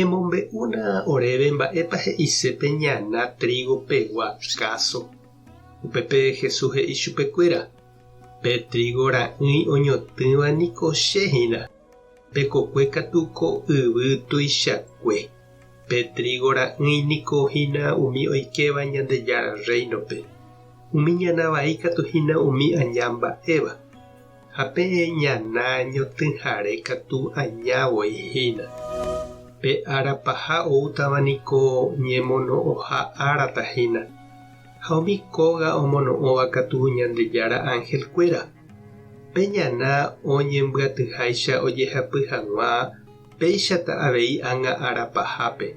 Emombe'úna oréve mba'épa he'ise pe ñana trígo pegua káso. Upépe Jesús he'i chupe kuéra, Pe trígo ra'ỹi oñotỹva niko che hína. Pe kokue katu ko yvy tuichakue. Pe trígo ra'ỹi niko hína umi oikéva Ñandejára Rréinope. Umi ñana vai katu hína umi aña mba'éva. Ha pe ñana ñotỹhare katu aña voi hína. Pe ára paha oútava niko ñemono'õha ára tahína. Ha umi kóga omono'õva katu Ñandejára angelkuéra. Pe ñana oñembyatyháicha ojehapy hag̃ua péichata avei ág̃a ára pahápe.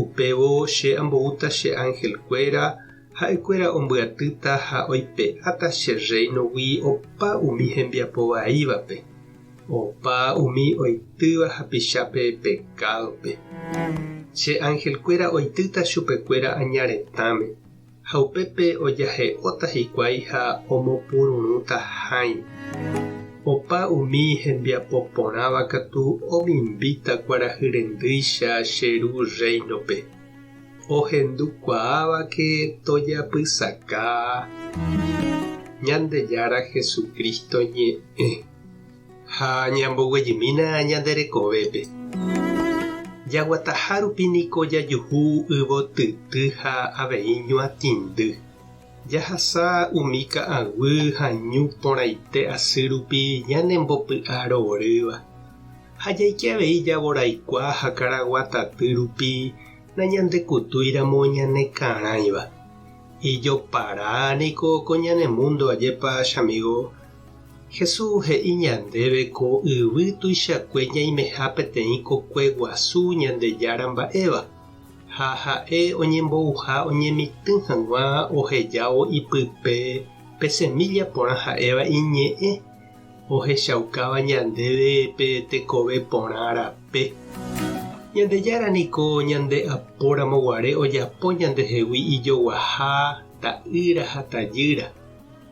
Upévo che amboúta che angelkuéra Ha'ekuéra ombyatýta ha oipe'áta che Rréinogui opa umi hembiapo vaívape, opa umi oitýva hapichápe pekádope. Che angelkuéra oitýta chupekuéra aña retãme, ha upépe ojahe'óta hikuái ha omopururũta hãi. Opa umi hembiapo porãva katu omimbíta kuarahy rendýicha che Ru Rréinope. ohendukuaávake tojapysaka Ñandejára Jesucristo ñe'ẽ ha ñamboguejymína ñande rekovépe. Jaguataha rupi niko jajuhu yvotyty ha avei ñuatĩndy. Jahasa umi ka'aguy ha ñu porãite asy rupi ñanembopy'aroorýva. Ha jaike avei javoraikuaa ha karagua taty rupi nañandekutúiramo ñanekarãiva. Ijopara niko ko ñane múndo ajépa chamigo. Jesús he'i ñandéve ko yvy tuichakue ñaimeha peteĩ kokue guasu Ñandejára mba'éva, ha ha'e oñembouha oñemitỹ hag̃ua ohejávo ipype pe semílla porã ha'éva iñe'ẽ, ohechaukáva ñandéve pe tekove porã rape. Ñandejára niko ñande apóramo guare ojapo ñandehegui ijoguaha ta'ýra ha tajýra,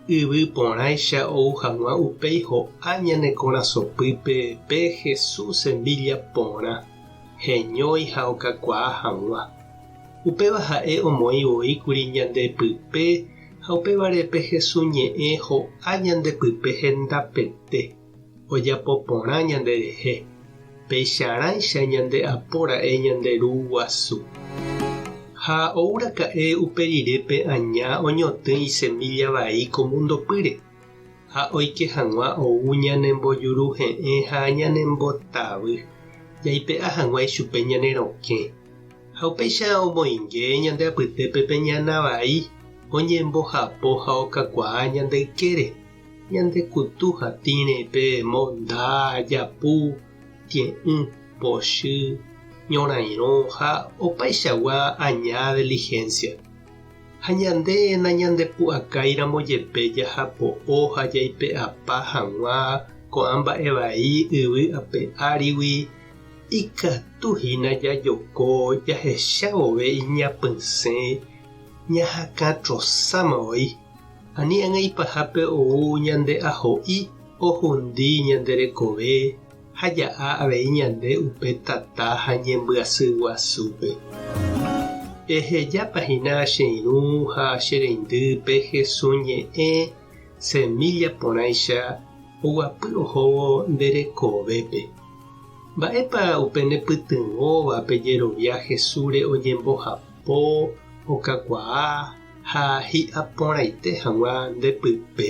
yvy porãicha ou hag̃ua upéi ho'a ñane korasõpýpe pe Jesús semílla porã, heñói ha okakuaa hag̃ua. Upéva ha'e omoĩ voi kuri ñande pype Ha upévare pe Hesu ñe'ẽ ho'a ñande pype hendapete, ojapo porã ñande rehe, peicharãicha ñande apo ra'e ñande Ru guasu. Ha ou raka'e upe rire pe aña oñotỹ isemílla vai ko múndo pýre. ha oike hag̃ua ou ñanembojuruhe'ẽ ha ñanembotavy, jaipe'a hag̃ua ichupe ñane rokẽ. Ha upéicha omoinge ñande apytépe pe ñana vai oñembohapo ha okakuaa ñande ykére, ñande kutu ha tĩrepe, monda, japu, tie'ỹ, pochy, ñorairõ ha opaichagua aña deligencia. Ha ñande nañandepu'akáiramo jepe jahapo'o ha jaipe'apa hag̃ua ko'ã mba'e vai yvy ape árigui, ikatu hína jajoko jahecha vove iñapysẽ ñahakã trosáma voi, ani ag̃aipahápe ou ñande aho'i ohundi ñande rekove. ha ja'a avei ñande upe tata ha ñembyasy guasúpe. Ehejápa hína che irũ ha che reindy pe Hesu ñe'ẽ semílla porãicha oguapy ohóvo nde rekovépe. Mba'épa upe ne pytyvõva pe jerovia Hesúre oñembohapo, okakuaa ha hi'aporãite hag̃ua nde pype?